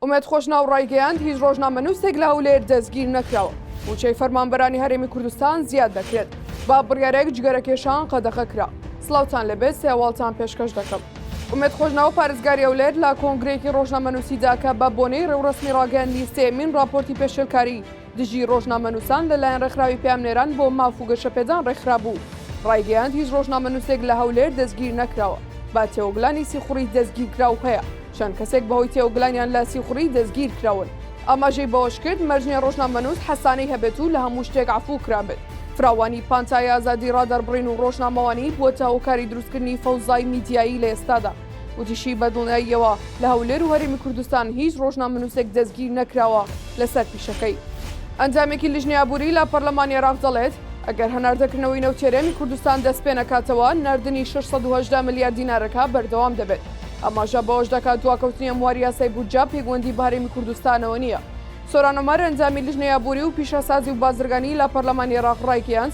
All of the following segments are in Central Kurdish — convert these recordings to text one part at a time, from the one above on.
ئومێد خۆشناو ڕایگەیاند، هیچ ڕۆژنامەنووسێک لە هەولێر دەستگیر نەکراوە، مووچەی فەرمانبەرانی هەرێمی کوردستان زیاد دەکرێت، با بڕیارێک جگەرەکێشان قەدەغە کرا. سڵاوتان لێبێت، سێ هەواڵتان پێشکەش دەکەم. ئومێد خۆشناو پارێزگاری هەولێر لە کۆنگرەیەکی ڕۆژنامەنووسیدا کە بە بۆنەی ڕێوڕەسمی ڕاگەیاندنی سێیەمین ڕاپۆرتی پێشێلکاری، دژی ڕۆژنامەنووسان لەلایەن ڕێکخراوی پەیامنێران بۆ ماف و گەشەپێدان ڕێکخرابوو، ڕایگەیاند هیچ ڕۆژنامەنووسێک لە هەولێر دەستگیر نەکراوە، بە تێوەگلانی سیخوڕی دەستگیرکراو هەیە، چەند کەسێک بەهۆی تێوەگلانیان لە سیخوڕی دەستگیرکراون. ئاماژەی بەوەشکرد، مەرج نییە ڕۆژنامەنووس حەسانەی هەبێت و لە هەموو شتێک عەفوو کرابێت، فراوانی پانتایی ئازادی ڕادەربڕین و ڕۆژنامەوانی بووەتە هۆکاری دروستکردنی فەوزای میدیایی لە ئێستادا. وتیشی، بە دڵنیاییەوە لە هەولێر و هەرێمی کوردستان هیچ ڕۆژنامەنووسێک دەستگیر نەکراوە لەسەر پیشەکەی. ئەندامێکی لیژنەی ئابووری لە پەرلەمانی عێراق دەڵێت، ئەگەر هەناردەکردنەوەی نەوتی هەرێمی کوردستان دەستپێنەکاتەوە، ناردنی شەش سەد و هەژدە ملیار دینارەکە بەردەوام دەبێت. ئاماژە بەوەش دەکات، دواکەوتنی ئەمواری یاسای بودجە پێکوەندی بە هەرێمی کوردستانەوە نییە. سۆران عومەر، ئەندامی لیژنەی ئابووری و پیشەسازی و بازرگانی لە پەرلەمانی عێراق ڕایگەیاند،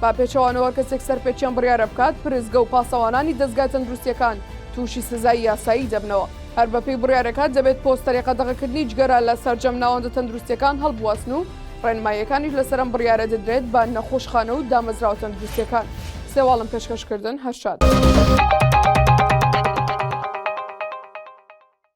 بە پێچەوانەوە کەسێک سەرپێچی ئەم بڕیارە بکات، پرسگە و پاسەوانانی دەزگا تەندروستییەکان تووشی سزای یاسایی دەبنەوە. هەر بەپێی بڕیارەکە، دەبێت پۆستەری قەدەغەکردنی جگەرە لە سەرجەم ناوەندە تەندروستییەکان هەڵبواسن و ڕێنماییەکانیش لەسەر ئەم بڕیارە دەدرێت بە نەخۆشخانە و دامەزراوە تەندروستییەکان. سێواڵم پێشکەشکردن هەر شاد.